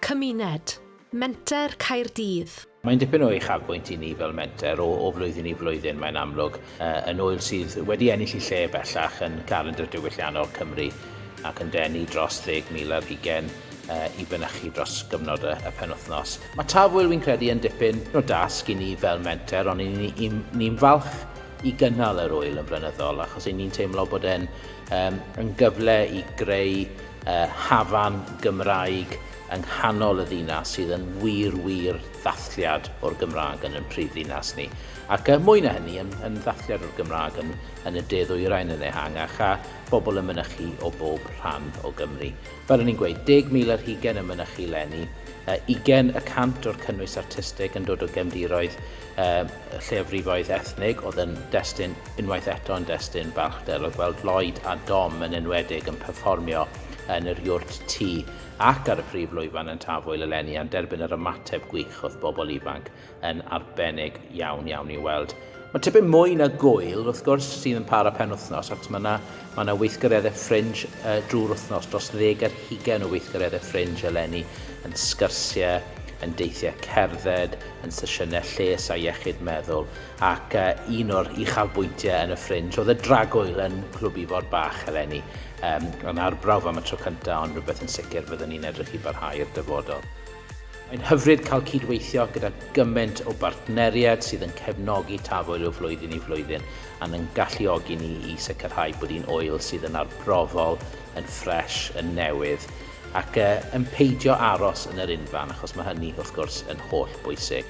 Cymuned, Menter Caerdydd. Mae'n dipyn o uchafbwynt i ni fel menter o, o flwyddyn i flwyddyn, mae'n amlwg, uh, yn oel sydd wedi ennill i lle bellach yn calendr diwylliannol Cymru ac yn denu dros 10,000 ar hugen uh, i fynychu dros gyfnod y, y penwthnos. Mae Tafwyl, fi'n credu, yn dipyn o dasg i ni fel menter, ond ni'n ni, ni, ni falch i gynnal yr wyl yn flynyddol, achos ni'n teimlo bod e'n Yym, yn gyfle i greu yy hafan Gymraeg yng nghanol y ddinas sydd yn wir, wir ddathliad o'r Gymraeg yn yn prif ddinas ni. Ac yy mwy na hynny, yn yn ddathliad o'r Gymraeg yn yn y de ddwyrain yn ehangach, a bobl yn mynychu o bob rhan o Gymru. Fel o'n i'n gweud, 10,000 ar hugain yn mynychu 'leni, yy ugain y cant o'r cynnwys artistig yn dod o gefndiroedd y lleiafrifoedd ethnig oedd yn destun, unwaith eto yn destun balchder o gweld Lloyd a Dom yn enwedig yn perfformio yn yr Iwrt Ti ac ar y prif lwyfan yn Tafwyl eleni a'n derbyn yr ymateb gwych oedd bobl ifanc yn arbennig iawn iawn i'w weld. Mae tipyn mwy na gŵyl, wrth gwrs, sydd yn para penwythnos achos mae yna Mae yna weithgareddau ffrinj drwy'r wythnos, dros ddeg ar hugain o weithgareddau ffrinj eleni, yn sgyrsiau, yn deithiau cerdded, yn sesiynau lles a iechyd meddwl, ac un o'r uchafbwyntiau yn y ffrinj oedd y dragwyl yn Clwb Ifor Bach eleni, yn arbrawf am y tro cyntaf ond rhywbeth yn sicr fyddwn ni'n edrych i barhau i'r dyfodol. Mae'n hyfryd cael cyd-weithio gyda gymaint o bartneriaid sydd yn cefnogi Tafwyl o flwyddyn i flwyddyn, Mae'n ein galluogi ni i sicrhau bod un ŵyl sydd yn arbrofol, yn ffres, yn newydd, ac yn peidio aros yn yr unfan, achos mae hynny, wrth gwrs, yn holl bwysig.